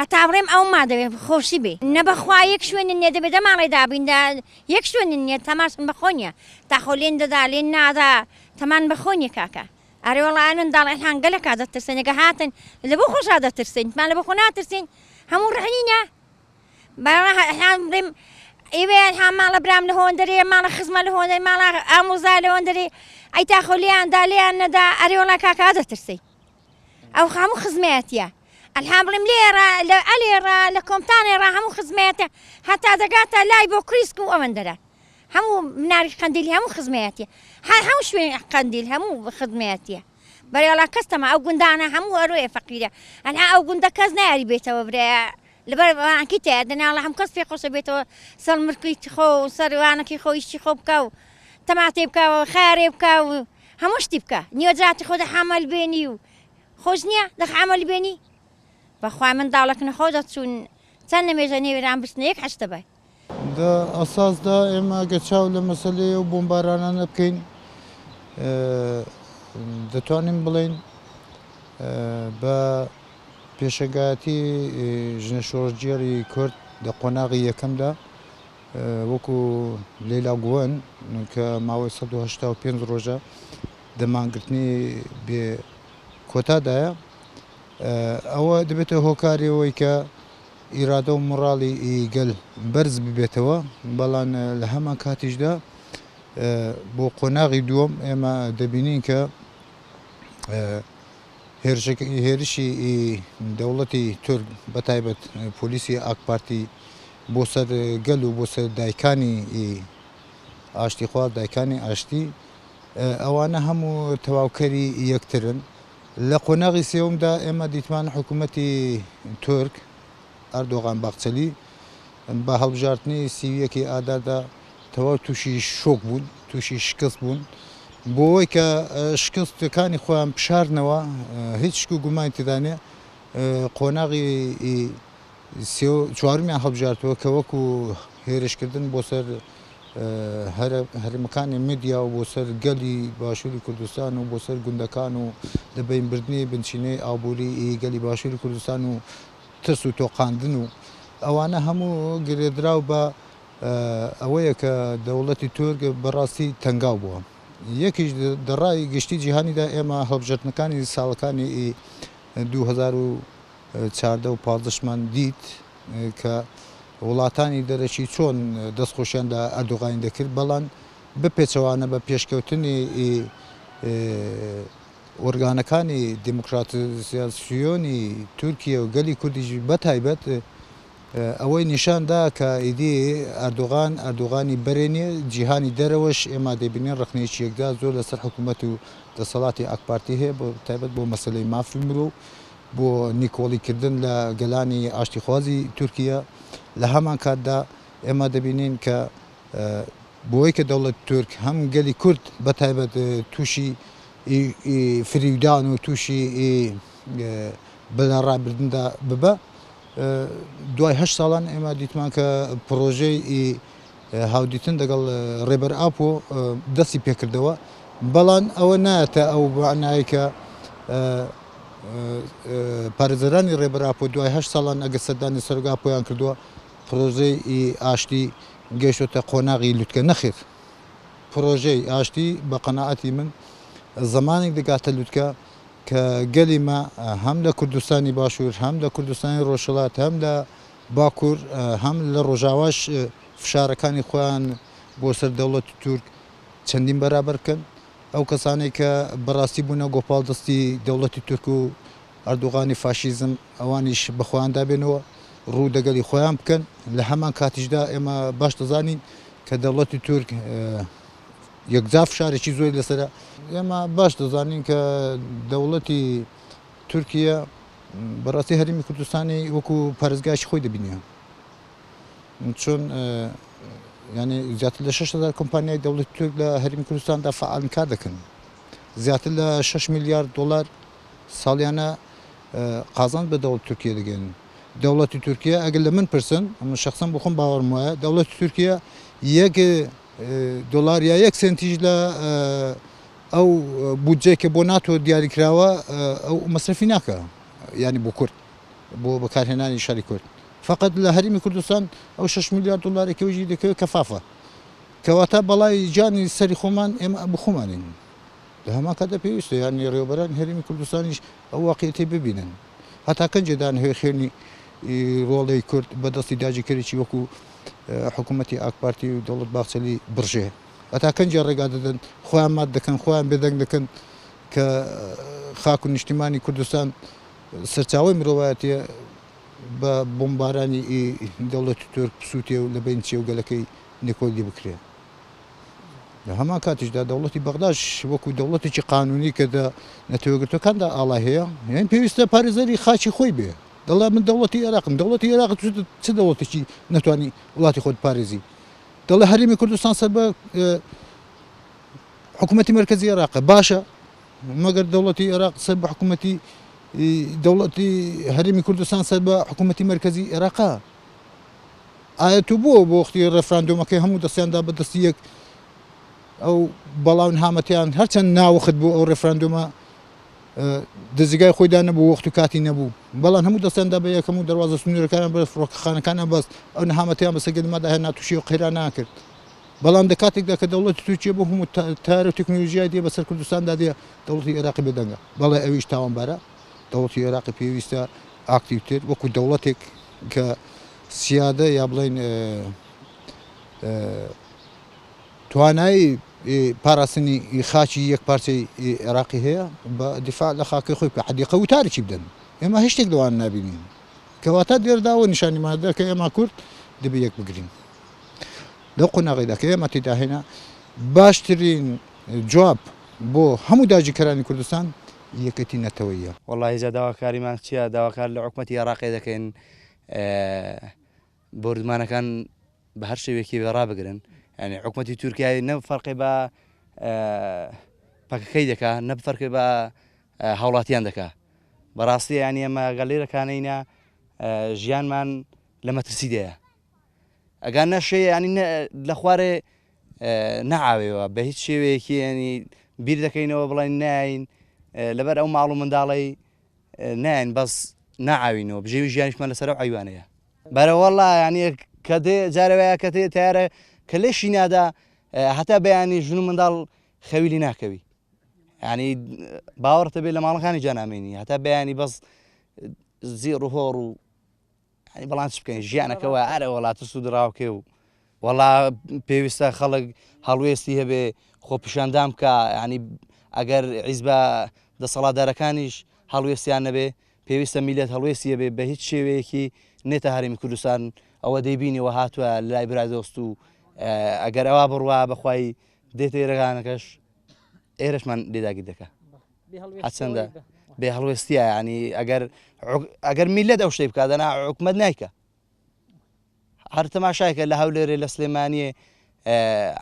هەتا بڕێم ئەوم مادەوێ خۆشی بێ نە بەخوا یەک شوێنن نیە دەبێ دە ماڵێ دابین دا یەک شوێنن نیە تەماشن بە خۆ نیە تاخۆ لێن دەدا لێن نادا تەمان بە خۆ نیە کاکە ئەرێ وەڵا ئەمن داڵ ئەلحان گەلەکا دەترسێن ئەگە هاتن لە بۆ خۆشا دەترسێن تمان لە بۆ خۆ ناترسین هەموو ڕحنینە بەڵا ئەلحان بڵێم ئێوێ ئەلحان ماڵە برام لە هۆندەرێ ماڵە خزمە لە هۆندەر ماڵا ئامۆزا لە هۆندەرێ ئەی تاخۆ لێیان دا لێیان نەدا ئەرێ وەڵا کاکا دەترسێن ئەو خاموو خزمەتە ئەلحام بڵێم لێرە لە ئەلێرە لە کۆمتانێڕ هەموو خزمەتە هەتا دەگاتە لای بۆ کریسک و ئەوەن دەرە هەموو مناری قندیلی هەموو خزمەتە هەر هەموو شوێن قندیل هەموو خزمەتە بەێڵا کەستەمە ئەو گوندانە هەموو ئەروێ فەقیرە ئەنا ئەو گوندە کەس ناری بێتەوە برایە لەبەر وانەکی تێ ئەدەن یاڵا هەموو کەس پێ خۆشە بێتەوە سەر ملکی خۆ و سەر وانەکی خۆ ئیشی خۆ بکا و تەماتەی بکا و خارێ بکا و هەموو شتی بکا نیوە جاتی خۆ دە حەمەل بێنی و خۆش نییە دەخ حەمەل بێنی بەخوای منداڵەک نەخۆ دەچوون چەند نەمێژە نێوێران بچنە یەک حەشتە بای لە ئەساسدا ئێمە گەر چاو لە مەسەلەی ئەو بۆمبارانانە بکەین دەتوانین بڵێین بە پێشەنگایەتی ژنە شۆڕجێری کورد لە قۆناغی یەکەمدا وەکو لەیلا گووەن کە ماوەی 1970 ڕۆژە دەمانگرتنی بێ کۆتادایە ئەوە دەبێتە هۆکارەوەی کە ئیرادە و مۆڕاڵی گەل بەرز ببێتەوە، بەڵام لە هەمان کاتیشدا بۆ قۆناغی دووەم ئێمە دەبینین کە هێرشی دەوڵەتی تورک بە تایبەت پۆلیسی ئاکپارتی بۆ سەر گەل و بۆ سەر دایکانی ئاشتیخواز دایکانی ئاشتی ئەوانە هەموو تەواوکەری یەکترن لە قۆناغی سێومدا ئێمە دیتمان حکوومەتی تورک، ئەردۆغان باخچەلی، بە هەڵبژاردنی سی و یەکی ئاداردا تەواو تووشی شۆک بوون، تووشی شکست بوون. بۆ ئەوەی کە شکستەکانی خۆیان بشارنەوە، هیچ شک و گومانی تێدا نییە، قۆناغی سێ و چوارمیان هەڵبژاردووە کە وەکو هێرشکردن بۆ سەر هەرمەکانی مدیا و بۆ سەر گەلی باشووری کوردستان و بۆ سەر گوندەکان و لە بینبردنی بنچینەی ئابووری گەلی باشووری کوردستان و ترس و تۆقاندن و ئەوانە هەموو گرێدراو بە ئەوەیە کە دەوڵەتی تورک بەڕاستی تەنگاو بووە یەکیش دەڕای گشتی جیهانیدا ئێمە هەڵبژردنەکانی ساڵەکانی 2000 چاردە و پازدەشمان دیت کە وڵاتانی دەرەکی چۆن دەست خۆشیان لە ئەردۆغانی دەکرد، بەڵام بەپێچەوانە بە پێشکەوتنی ئۆرگانەکانی دیموکراتزیاسیۆنی تورکیە و گەلی کوردیش بە تایبەت ئەوەی نیشان دا کە ئیدی ئەردۆغان ئەردۆغانی بەرێ نیە، جیهانی دەرەوەش ئێمە دەیبینین ڕەخنەیەکی یەکجار زۆر لەسەر حکوومەت و دەسەڵاتی ئاکپارتی هەیە بە تایبەت بۆ مەسەلەی مافی مرۆ و بۆ نکۆڵی کردن لە گەلانی ئاشتیخوازی تورکییە، لە هەمان کاتدا ئێمە دەبینین کە بەوەی کە دەوڵەتی تورک هەم گەلی کورد بە تایبەت تووشی فریودان و تووشی بە لە ڕابردندا ببە دوای هەشت ساڵان ئێمە دیتمان کە پڕۆژەی هاودیتن دەگەڵ ڕێبەر ئاپۆ دەستی پێکردەوە، بەڵام ئەوە نایەتە ئەو مەعنایەی کە پارێزەرانی ڕێبەر ئاپۆ دوای هەشت ساڵان ئەگەر سەردانی سەرۆک ئاپۆیان کردووە پڕۆژەی ئاشتی گەیشتۆتە قۆناغی لوتکە، نەخێر پڕۆژەی ئاشتی بە قەناعەتی من زەمانێک دەگاتە لوتکە کە گەلی مە هەم لە کوردستانی باشوور هەم لە کوردستانی ڕۆژهەڵات هەم لە باکور هەم لە ڕۆژاواش فشارەکانی خۆیان بۆ سەر دەوڵەتی تورک چەندین بەرابەر کرد. ئەو کەسانەی کە بە ڕاستی بوونە گۆپاڵ دەستی دەوڵەتی تورک و ئەردوغانی فاشیزم ئەوانیش بە خۆیاندا بێنەوە ڕوو دەگەلی خۆیان بکەن. لە هەمان کاتیشدا ئێمە باش دەزانین کە دەوڵەتی تورک یەکجار فشارێکی زۆری لەسەرە. ئێمە باش دەزانین کە دەوڵەتی. تورکییە بەڕاستی هەرێمی کوردستانی وەکو پارێزگایەکی خۆی دەبینێ چۆن یعنی زیاتر لە 6هزار کۆمپانیای دەوڵەتی تورک لە هەرێمی کوردستاندا فعالن کار دەکەن زیاتر لە 6 میلیارد دلار ساڵیانە قازان بە دەوڵەت تورکیە دەگەن دەوڵەتی تورکیا ئەگەر لە من پرسن ئەمە شخصم بخۆم باوەڕم وایە دەوڵەتی تورکیا یەک دلار یا یەک سنتیش لە ئەو بودجەی کە بۆ ناتۆ دیاریکراوە ئەو مەسرەفی ناکا یانی بۆ کورد بۆ بەکارهێنانی شاری کورد فقط لە هەرمی کوردستان ئەو 6 میلیارد دلاری کەوژی دەکەوێت کەفافە کەواتە بەڵای جانی سەری خۆمان ئێمە بخۆمانین لە هەما کاتە پێویستە یانی ڕێوبەران هەرمی کوردستانیش ئەو واقعێتی ببینن هەتا کەنجێدان هەوێ خوێنی ڕۆڵی کورد بەدەستی داجیکەرێکی وەکو حکوومەتی ئاکپارتی و دەوڵەت باخچەلی بڕژێ هەتا کەنجێ ڕێگا دەدەن، خۆیان مات دەکەن، خۆیان بێدەنگ دەکەن کە خاک و نیشتیمانی کوردستان سەرچاوەی مرۆڤایەتیە بە بۆمبارانی ئی دەوڵەتی تورک بسوتێ و لە بەین چێ و گەلەکەی نکۆلی بکرێ. لە هەمان کاتیشدا دەوڵەتی بەغداش وەکو دەوڵەتێکی قانونی کە دە نەتەوە یەکگرتوەکاندا ئاڵای هەیە، یانی پێویستە پارێزەری خاکی خۆی بێ. دەڵێ من دەوڵەتی ئێراقم، دەوڵەتی ئێراق چ دەوڵەتێکی نەتوانی وڵاتی خۆت بپارێزی. دەڵێ هەرێمی کوردستان سەر بە حکوومەتی مەرکەزی عێراقە باشە مەگەر دەوڵەتی عێراق سەر بە حکوومەتی دەوڵەتی هەرێمی کوردستان سەر بە حکوومەتی مەرکەزی عێراقا ئایا تو بۆ بۆ وەختی ڕێفراندۆمەکەی هەموو دەستیاندا بە دەستی یەک ئەو بەڵاون هامەتیان هەرچەند ناوەخت بۆ ئەو ڕێفراندۆمە دەزگای خۆیدا نەبوو وەخت و کاتی نەبوو بەڵام هەموو دەستیان دا بە یەکەم و دەواازە سنوورەکانیان بە فڕۆکەخانەکانیان بەست ئەو نەهامەتیان بەسە گەدممادا هەیە ناتوشی و قەیران ناکرد بەڵام دە کاتێکدا کە دەوڵەتی تورکیە بۆ هەموو تار و تەکنۆلژیای دێ بەسەر کوردستاندا دێ دەوڵی عێراقی بەدەنگە بەڵێ ئەویش تاوانبارە دەوڵی عێراقی پێویستە ئاکتیوتر وەکو دەوڵەتێک کە سیادە یا بڵین توانایی پاراستنی خاکی یەک پارچەی عێراقی هەیە با دیفاع لە خاکی خۆی بکا حدیقە وتارێکی بدەن ئێمە هیچ شتێک لەوان نابینین کەواتە دێردا و نیشانیمان دا کە ئێمە کورد دەبێ یەک بگرین لەو قۆناغیدا کە ئێمە تێدا هێنا باشترین جواب بۆ هەموو داگیرکەرانی کوردستان یەکێتی نەتەوەیە. وەڵاهی جا داواکاریمان چیە داواکار لە حکومەتی عێراقێ دەکەین ئێ. بۆردومانەکان بە هەر شێوەیەکی بێ ڕابگرن یعنی حکوومەتی تورکیای نە فەرقی بە پەکەکەی دەکا نە فەرقی بە هاوڵاتیان دەکا بەڕاستی ینی ئەمە گەلێرەکانینە ژیانمان لە مەترسی دەیە ئەگەر نەشێ ینی لە خوارێ نەعاوێەوە بە هیچ شێوەیەکی ینی بیر دەکەینەوە بڵین نین لەبەر ئەو ماڵ و منداڵی نین بەس ناعاوینەوە بژێوی ژیانیشمان لەسەر ئەیوانەیە برا واللە یانی کە دێ جارێ وایە کە تێ تیارە کە لێشی نادا هەتا بەیانی ژن و منداڵ خەویلی ناکەوی ینی باوەڕتە بێت لە ماڵەکانی جانامێنی هەتا بەیانی بەس زیێڕ و هۆڕ و بەڵام چ بکەین ژیانەکەەوە ئارە وڵات و سوودراوکێ و وەڵا پێویستە خەڵک هەڵوێستی هەبێ خۆپیشاندان بکا یعنی ئەگەر عیزبە دەسەڵاتدارەکانیش هەڵوێستیان نەبێ پێویستە میلەت هەڵوێستیە بێ بە هیچ شێوەیەکی نێتە هەرمی کوردستان ئەوە دەیبینیەوە هاتووە لای برای دۆست و ئەگەر ئەوە بڕوا بەخوای دێتە ئێرەگانەکەش ئێرشمان لێداگیر دەکە هەچەندە بێ هەڵوێستیە ینی ئەگەر ئەگەر میلەت ئەو شتێ بکدەنا حکومت نیکە هەر تەماشایکە لە هەولێرێ لە سلێمانیێ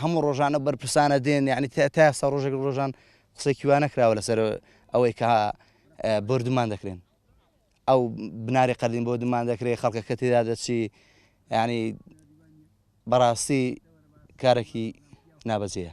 هەموو ڕۆژانە بەرپرسانە دێن یعنی تاسا ڕۆژێک ڕۆژان قسێکی وانە کراوە لەسەر ئەوەی کە بردمان دەکرێن ئەو بناری قەردین بۆ دمان دەکرێت خەڵکە کە تێدا دەچی ینی بەڕاستی کارێکی نابەجەیە